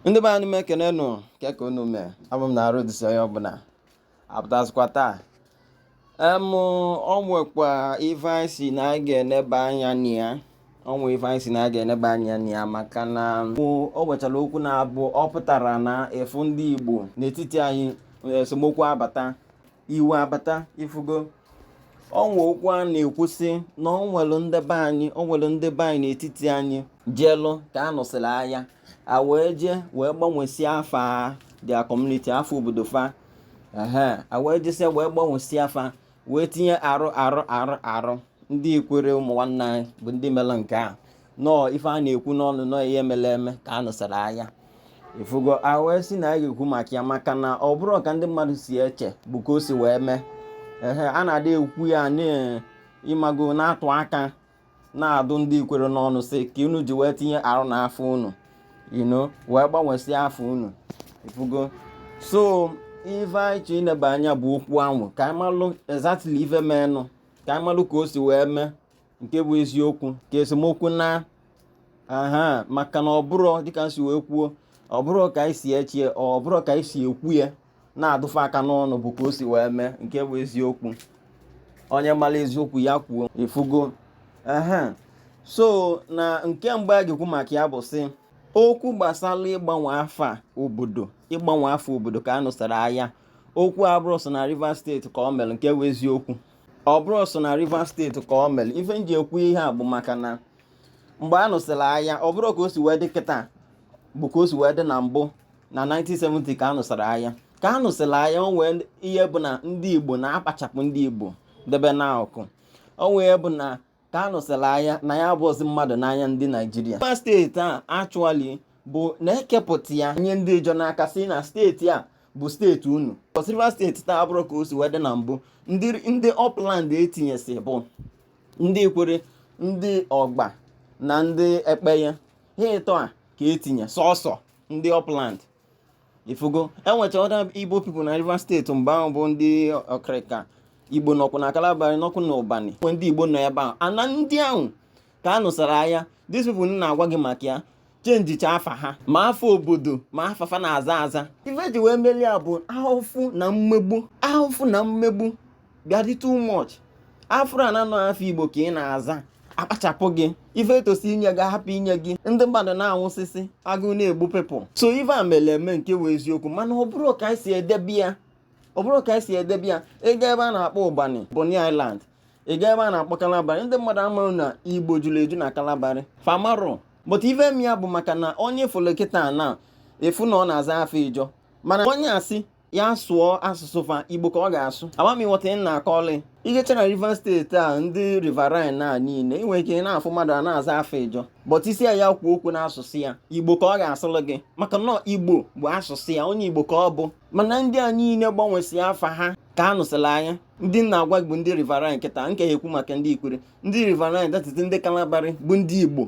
ndị be anyị m ekene nụ kee ka unu mee abụ m na arụ dịsị onye ọbụla apụtazikwa taa em o nwekwa ife anyị sị na anyị ga-eneba anya na ya o nwe ife anyị sị na anyị ga-eneba anya na ya maka na o nwechara okwu na-abụ ọ pụtara na ifu ndị igbo n'etiti anyị esemokwu abata iwe abata ifugo o nwe okwu a na-ekwu sị na o nwere ndị be anyị o nwere ndị be anyị n'etiti anyị jeelụ ka a nụsịrị agha a wee jee wee gbanwesie afa their community afa obodo fa ehe a wee jesie wee gbanwesie afa wee tinye R R R R ndị ikwere ụmụ nwanne anyị bụ ndị mere nke a nọọ ife a na-ekwu n'ọnụ nọọ ihe mere eme ka a nụsara aya ifugo a wee sị na a ga-ekwu maka ya maka na ọ bụrọ ka ndị mmadụ si eche bụ ka o si wee mee ehe a na-adị ekwu ya n'ịmago na-atụ aka na-adụ ndị ikwere n'ọnụ sị ka unu ji wee tinye R na afa unu you know wee gbanwesịa afa unu ifugo so ife anyị chọ ineba anya bụ okwu anwa ka anyị malụ exactly ife meenụ ka anyị malụ ka o si wee mee nke bụ eziokwu ka esemokwu naa aha maka na ọ bụrọ dịka m si wee kwuo ọ bụrọ ka anyị si eche ya ọ bụrọ ka anyị si ekwu ya na-adụ fa aka n'ọnụ bụ ka o si wee mee nke bụ eziokwu onye mara eziokwu ya kwuo ifugo aha so na nke mgbe a ga-ekwu maka ya bụ sị okwu gbasara ịgbanwe afa obodo ịgbanwe afa obodo ka a nụsara aya okwu abụrọ sọ na Rivers steeti ka o mere nke bụ eziokwu ọ bụrọ sọ na Rivers steeti ka o mere ife m ji ekwu ihe a bụ maka na mgbe a nụsịrị aya ọ bụrọ ka o si wee dị kịta bụ ka o si wee dị na mbụ na 1970 ka a nụsịrị aya ka a nụsịrị aya o nwee ihe bụ na ndị Igbo na a kpachapụ ndị Igbo debe n'akụkụ o nwee bụ na ka a nụsịrị aya na anyị abụọzi mmadụ n'anya ndị naijiria Rivers steeti a actually bụ na e kepụta ya nye ndị ịjọ n'aka sị na steeti a bụ steeti unu so Rivers steeti taa abụrọ ka o si wee dị na mbụ ndị ndị upland e tinyesị bụ ndị ikwere ndị ọgba na ndị ekpeye ha ịtọ a ka e tinye sọsọ ndị upland ifugo e nwecha other igbo people na rivers steeti mgbe ahụ bụ ndị ọkịrịka igbo nọkwu na kalabari nọkwu na ụbani e ndị igbo nọ ebe ahụ ana ndị ahụ ka a nụsara aya these people m na-agwa gị maka ya chenjicha afa ha ma afa obodo ma afa fa na-aza aza ife e ji wee melie a bụ ahụfụ na mmegbu ahụfụ na mmegbu bịa dị too much a fụrụ na ọ afa igbo ka ị na-aza akpachapụ gị ife etosi inye gị hapụ inye gị ndị mmadụ na-anwụsịsị agụụ na-egbu pepụl so ife a mere eme nke wee eziokwu mana ọ bụrụ ka anyị si edebe ya ọ bụrụ ka anyị si edebe ya ịga ebe a na-akpọ ụbani Bonny Island ịga ebe a na-akpọ Kalabari ndị mmadụ amaghị na igbo juru eju na Kalabari fa amarọ but ife m ya bụ maka na onye fụlụ kịta na ị fụ na ọ na-aza afa ijọ mana onye asị ya sụọ asụsụ fa igbo ka ọ ga-asụ ama m ị ghọta ị na-akọlị i jecha na rivers steeti a ndị riverine a niile ị nwere ike ị na-afụ mmadụ a na-aza afa ịjọ but ị sị ya kwuo okwu n'asụsụ ya igbo ka ọ ga-asụlụ gị maka na ọ igbo bụ asụsụ ya onye igbo ka ọ bụ mana ndị a niile gbanwesị afa ha ka a nụsịrị aya ndị na-agwa bụ ndị riverine kịta nke ekwu maka ndị ikwerre ndị riverine dị etiti ndị kalabari bụ ndị igbo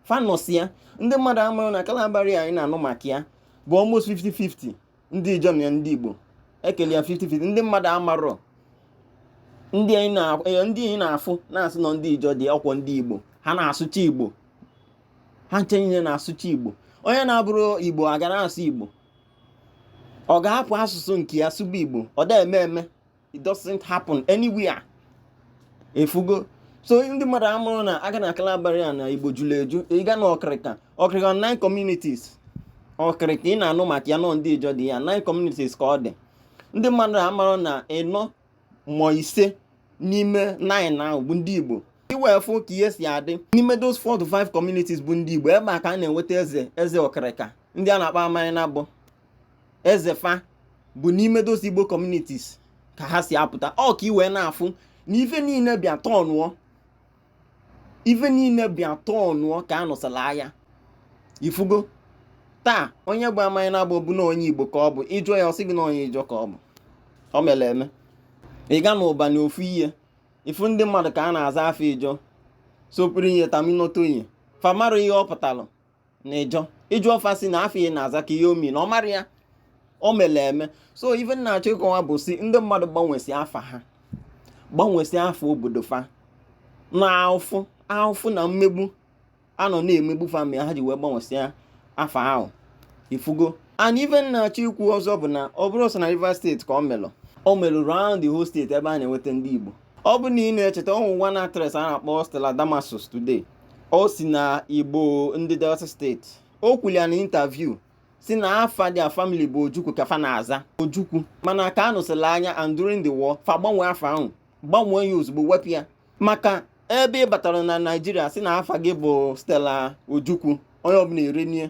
fa nọsi ya ndị mmadụ amaghị na kalabari anyị na-anụ maka ya bụ almost 50-50 ndị ijọ na ndị igbo e kelụ ya 50-50 ndị mmadụ amarọ ndị anyị na-afụ na-asị na ọ ndị ijọ dị ọkwa ndị igbo ha na-asụcha igbo ha ncha niile na-asụcha igbo onye na-abụrọ igbo aga na-asụ igbo ọ ga-ahapụ asụsụ nke ya sụba igbo ọ da eme eme it doesn't happen anywhere ị fụgo so ndị mmadụ amarọ na aga na kalabari a na igbo juru eju ịga na ọkịrịka ọkịrịka nine communities ọkịrịka ị na-anụ maka ya na ọ ndị ijọ dị ya nine communities ka ọ dị ndị mmadụ amarọ na ịnọ ma ise n'ime nine ahụ bụ ndị igbo i wee fụ ka ihe si adị n'ime those four to five communities bụ ndị igbo ebe a ka a na-enweta eze eze ọkịrịka ndị a na-akpọ amanyanabo eze fa bụ n'ime those Igbo communities ka ha si apụta ọ ka i wee na-afụ na ife niile bịa tọnụọ ife niile bịa tọnụọ ka a nụsịlị aya ị fụgo taa onye bụ amanyanabo bụ na onye igbo ka ọ bụ ị jụọ ya ọ sị gị na onye ijọ ka ọ bụ ọ mere eme ị ga na ụbani ofu ihe ị fụ ndị mmadụ ka ha na-aza afa ijọ Sopriye Tamunotonye fa amarọ ihe ọ pụtalụ na ịjọ ị jụọ fa sị na afa ị na-aza ka ihe ọ mean na ọ marọ ya o mere eme so ife na-achọ ịkọwa bụ si ndị mmadụ gbanwesị afa ha gbanwesị afa obodo fa na ahụfụ ahụfụ na mmegbu a nọ na-emegbu fa mere ha ji wee gbanwesịa afa ahụ ị fụgo and ife na-achọ ikwu ọzọ bụ na ọ bụrọ sọ na Rivers steeti ka ọ melụ o melụ round the whole steeti ebe a na-enweta ndị Igbo ọ bụ na ị na-echeta o nwe one actress a na-akpọ Stella Damasus today o si na Igbo ndị Delta steeti o kwulia na interview si na afa their family bụ Ojukwu ka fa na-aza Ojukwu mana ka a nụsịlị aya and during the war fa gbanwee afa ahụ gbanwee ya ozugbo wepụ ya maka ebe ị batara na Naịjirịa si na afa gị bụ Stella Ojukwu onye ọbụla eri nie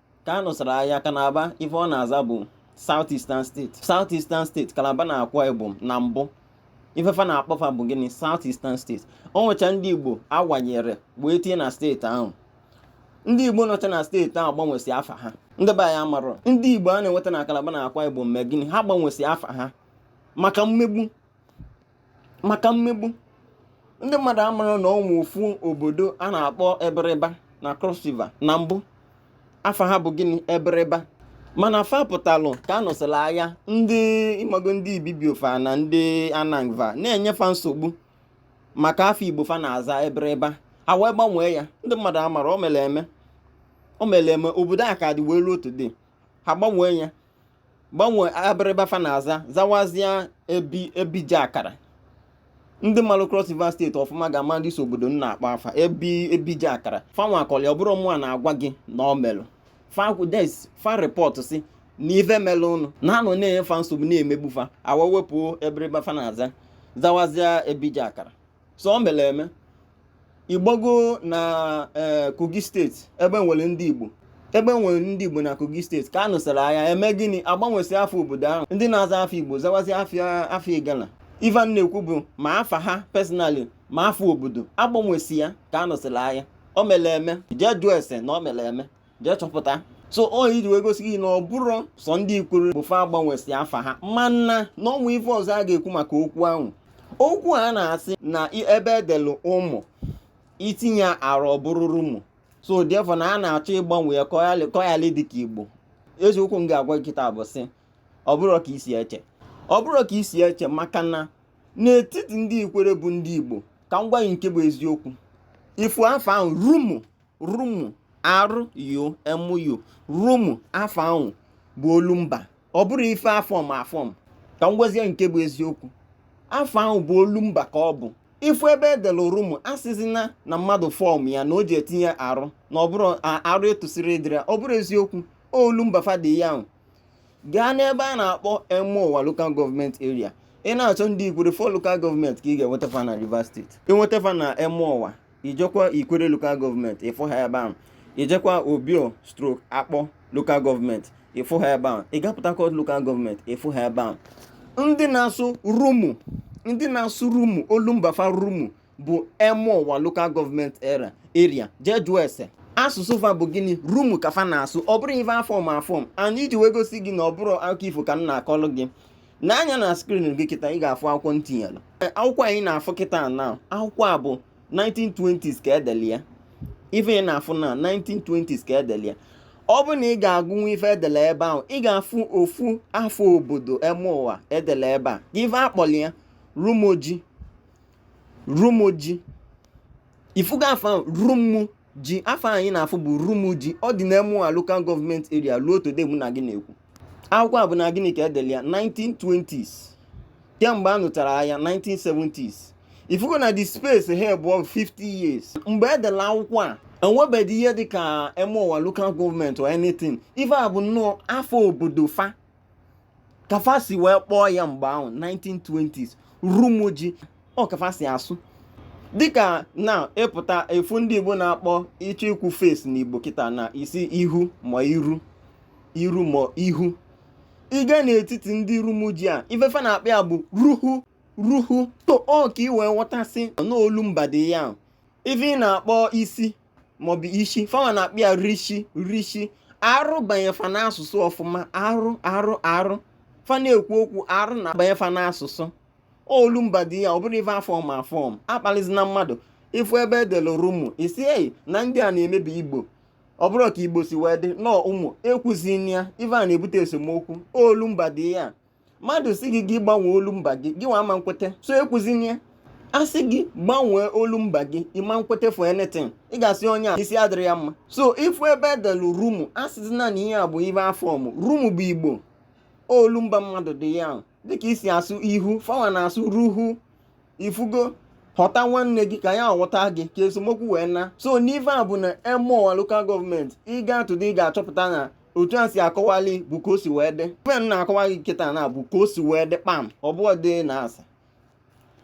ka a nụsara agha kalaba ife ọ na-aza bụ South Eastern State South Eastern State kalaba na akwa ibom na mbụ ifefa na-akpọfa bụ gịnị South Eastern State o nwecha ndị Igbo a wanyere wee tinye na steeti ahụ ndị Igbo nọcha na steeti ahụ gbanwesị afa ha ndị be anyị amarọ ndị Igbo a na-enweta na kalaba na akwa ibom mee gịnị ha gbanwesị afa ha maka mmegbu maka mmegbu ndị mmadụ amarọ na o nwe ofu obodo a na-akpọ ebiriba na cross river na mbụ afa ha bụ gịnị ebiriba mana fa pụtalụ ka a nụsịrị agha ndị ịmago ndị ibibio fa na ndị annang fa na-enyefa nsogbu maka afa igbo fa na-aza ebiriba ha wee gbanwee ya ndị mmadụ amarọ o mere eme o mere eme obodo a ka dị wee ruo today ha gbanwee ya gbanwee ebiriba fa na-aza zawazie ebijakara ndị malụ Cross River steeti ọfụma ga-ama this obodo m na-akpọ afa ebijakara fanwa kọlị ọ bụrọ mụwa na-agwa gị na o melụ fa repọtụ sị na ife melụ nụ na a nọ na-enye fa nsogbu na-emegbu fa ha wee wepụ ebiriba fa na-aza zawazie ebijakara so o mere eme ị gbago na ee kogi steeti ebe e nwere ndị igbo ebe e nwere ndị igbo na kogi steeti ka a nụsara agha e mee gịnị a gbanwesị afa obodo ahụ ndị na-aza afa igbo zawazi afa igala ive m na-ekwu bụ ma afa ha personally ma afa obodo a gbanwesị ya ka a nụsara agha o mere eme jee jụọ ese na o mere eme jee chọpụta so iji wee gosi gị na ọ bụrọ sọ ndị ikwere bụ fa gbanwesị afa ha mana na o nwe ife ọzọ a ga-ekwu maka okwu ahụ okwu a na-asị na ebe e delu ụmụ i tinye R ọ bụrụ rumu so therefore na a na-achọ ịgbanwe ya ka ọ yalị ịdị ka igbo eziokwu m ga-agwa gị kịta bụ sị ọ bụrọ ka i si eche ọ bụrọ ka i si eche maka na n'etiti ndị ikwere bụ ndị igbo ka m gwa gị nke bụ eziokwu ị fụ afa ahụ rumu rumu R U M U rumu afa ahụ bụ olu mba ọ bụrọ ife a fọm afọm ka m gwazie nke bụ eziokwu afa ahụ bụ olu mba ka ọ bụ ị fụ ebe e dere rumu asịzina na mmadụ fọm ya na o ji etinye R na ọ bụrọ R tosịrị ịdịrị ọ bụrọ eziokwu olu mba fa dị ya ahụ gaa n'ebe a na-akpọ emohua lokal gọọmenti eria ị na-achọ ndị ikwere four lokal gọọmenti ka ị ga-enweta fa na rivers steeti i nweta fa na emohua i jekwa ikwere lokal gọọmenti ị fụ ha ebe ahụ i jekwa obio stroke akpor lokal gọọmenti ị fụ ha ebe ahụ ị gaa Port Harcourt lokal gọọmenti ị fụ ha ebe ahụ ndị na-asụ rumu ndị na-asụ rumu olu mba fa rumu bụ emohua lokal gọọmenti era eria jee jụọ ese asụsụ fa bụ gịnị rumu ka fa na-asụ ọ bụrọ ife a fọm afọm and iji wee gosi gị na ọ bụrọ akụkọ ifo ka m na-akọlụ gị nee anya na screen gị kịta ị ga-afụ akwụkwọ m tinyelu akwụkwọ anyị na-afụ kịta na akwụkwọ a bụ 1920s ka edeli ya ife ị na-afụ na 1920s ka edeli ya ọ bụ na ị ga-agụnwu ife edelu ebe ahụ ị ga-afụ ofu afa obodo Emohua edelu ebe a gị ife akpọli ya Rumuji Rumuji ifugo afa Rumu ji afa anyị na-afụ bụ Rumuji ọ dị n'Emohua Local Government Area ruo today mụ na gị na-ekwu akwụkwọ a bụ na gịnị ka edeli ya 1920s kemgbe a nụchara agha 1970s ifugo na the space here bụ 50 years mgbe edelu akwụkwọ a enwebeghị ihe dịka Emohua Local Government or anything ife a bụ nnọọ afa obodo fa ka fa si wee kpọọ ya mgbe ahụ 1920s Rumuji ọ ka fa si asụ dịka na ịpụta efu ndị igbo na-akpọ ịchọ ikwu face n'igbo kịta na ị sị ihu ma iru iru ma ihu ị gaa n'etiti ndị rumuji a ife fa na-akpọ ya bụ ruhu ruhu so ọ ka ị wee ghọta sị na olu mba dị ya ife ị na-akpọ isi maọbụ ishi fanwa na-akpọ ya rishi rishi R banye fa n'asụsụ ọfụma R R R fa na-ekwu okwu R na-abanye fa n'asụsụ olu mba dị ya ọ bụrọ ife a form aform akpalizina mmadụ ịfụ ebe edere rumu ị sị eyi na ndị a na-emebi igbo ọ bụrọ ka igbo si wee dị na ọ ụmụ ekwuzina ya ife a na-ebute esemokwu olu mba dị ya mmadụ sị gị gị gbanwee olu mba gị gị nwa ama nkwete so ekwuzina ya a sị gị gbanwee olu mba gị ịma nkwete for anything ị ga-asị onye a isi adịrọ ya mma so ị fụ ebe edelu rumu asịzina na ihe a bụ ife a form rumu bụ igbo olu mba mmadụ dị ya ahụ dịka i si asụ ihu fawa na-asụ ruhu ifugo ghọta nwanne gị ka ya ghọta gị ka esemokwu wee naa so n'ife a bụ na Emohua local government ị gaa today ị ga-achọpụta na otu a si akọwali bụ ka o si wee dị ife m na-akọwa gị kịta na bụ ka o si wee dị kpam ọ bụrọ dị na asị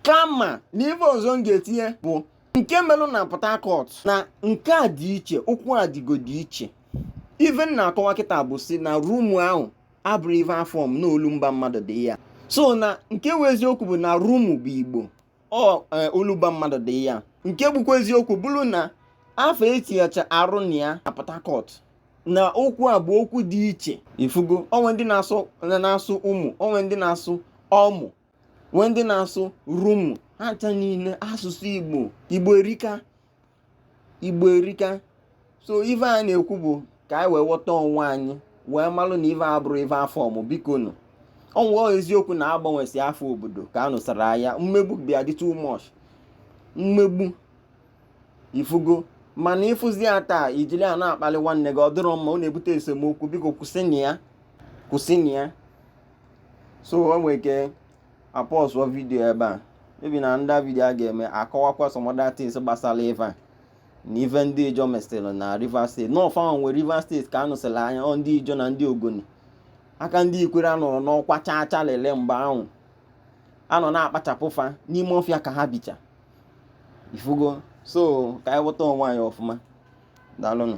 kama na ife ọzọ m ga-etinye bụ nke melụ na Port Harcourt na nke a dị iche okwu adịgo dị iche ife m na-akọwa kịta bụ sị na rumu ahụ abụrọ ife a form na olumba mmadụ dị ya so na nke wụ eziokwu bụ na rumu bụ igbo ọ e, olumba mmadụ dị ya nke bụkwa eziokwu bụrụ na afa etinyecha R na ya na Port Harcourt na okwu a bụ okwu dị iche ifugo o nwee ndị na-asụ na-asụ ụmụ o nwee ndị na-asụ ọmụ nwee ndị na-asụ rumu ha ncha niile asụsụ Igbo Igbo erika igbo erika so ife a na-ekwu bụ ka anyị wee ghọta onwe anyị wee malụ na ife abụrụ ife a fọmụ biko nụ ọ bụ eziokwu na agbanwesị afa obodo ka a nụsara aya mmegbu bịa dị too much mmegbu ifugo mana ịfụzi ya taa ijili ya na-akpali nwanne gị ọ dịrọ mma ọ na-ebute esemokwu biko kwụsịnụ ya so o nwere ike apọsụọ vidiyo ebe a maybe na ndị vidiyo a ga-eme akọwakwa some other things gbasara ife a na ife ndị ijo mesịrị na rivers steeti na ọ fa nwere rivers steeti ka a nụsịrị aya ọ ndị ijo na ndị ogoni aka ndị ikwere anọrọ n'ọkwa chaa chaa lele mgbe ahụ a nọ na-akpachapụ fa n'ime ọfịa ka ha bicha ifugo so ka anyị ghọta onwe anyị ọfụma daalụnụ